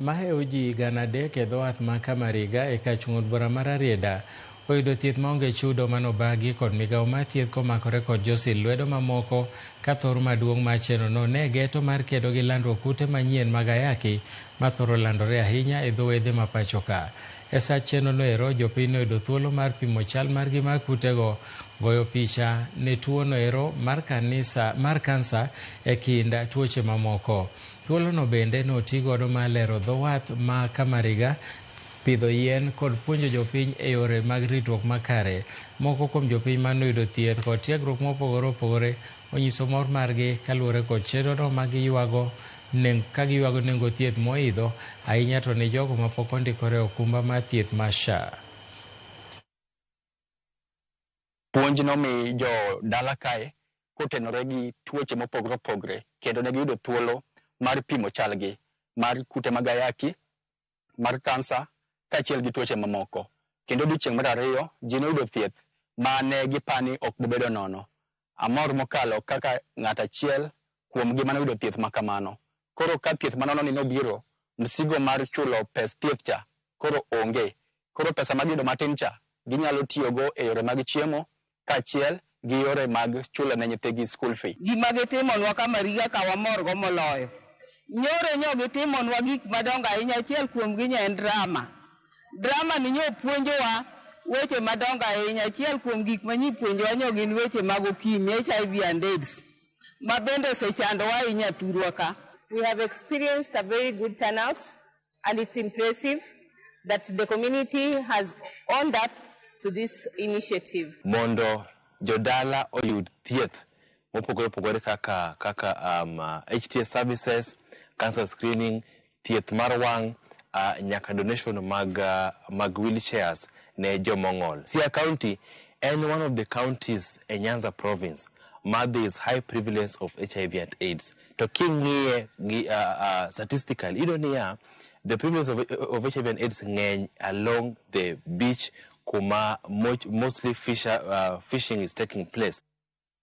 Maheo ji gana adek e dhowath ma Kamariga e kar chung' od bura ma Rarieda oyudo thieth maonge chudo manobagi kod migao mar thieth komakore kod josil lwedo mamoko ka thor maduong' mar chenro no ne geto mar kedo gi landruok kute manyien mag ayaki mathoro landore ahinya e dho wedhe ma pachoka. E saa chenro no ero jopiny noyudo thuolo mar pimo chal margi mar kutego, goyo picha ne tuo no ero mar kanisa mar kansa e kind tuoche mamoko. Thuolono bende noti godo mar lero dho wath ma Kamariga, pidho yien kod puonjo jopiny e yore mag ritruok makare. Moko kuom jopiny ma noyudo thieth kod tiegruok mopogore opogore onyiso mor margi kaluwore kod chenrono ma giyuago neng ka giyuago nengo thieth moidho ahinya to ne jogo mapok ondikore e okumba mar thieth mar SHA. Puonj nomi jo dala kae kotenore gi tuoche mopogre opogre kendo ne giyudo thuolo mar pimo chalgi mar kute mag ayaki, mar kansa kaachiel gi tuoche mamoko. Kendo odiechieng' mar ariyo ji noyudo thieth ma ne gipani ok bobedo nono. Amor mokalo kaka ng'at achiel kuomgi mane oyudo thieth ma kamano. Koro ka thieth manononi nobiro, msigo mar chulo pes thieth cha koro onge. Koro pesa ma giyudo matin cha, ginyalo tiyogo e yore mag chiemo kaachiel gi yore mag chulo ne nyithigi school fee. Gima gitimonwa ka Mariga ka wamorgo moloyo. Nyoro nyo gitimonwa gik madongo ahinya, achiel kuomgi nyo en drama. Drama ni nyo puonjowa weche madongo ahinya. Achiel kuom gik ma nyi puonjowa nyo gin weche mag okimi, HIV and AIDS, ma bende osechandowa ahinya thurwa ka. We have experienced a very good turnout and it's impressive that the community has owned up to this initiative. Mondo jodala oyud thieth mopogore opogore kaka kaka um, uh, HTA services, cancer screening, thieth mar wang' uh, nyaka donation mag, uh, mag wheelchairs ne jomong'ol. Siaya County en one of the counties e Nyanza province ma there is high prevalence of HIV and AIDS. To king'iye gi uh, uh, statistically iyudo niya the prevalence of, of HIV and AIDS ng'eny along the beach kuma mo- mostly fisher, uh, fishing is taking place.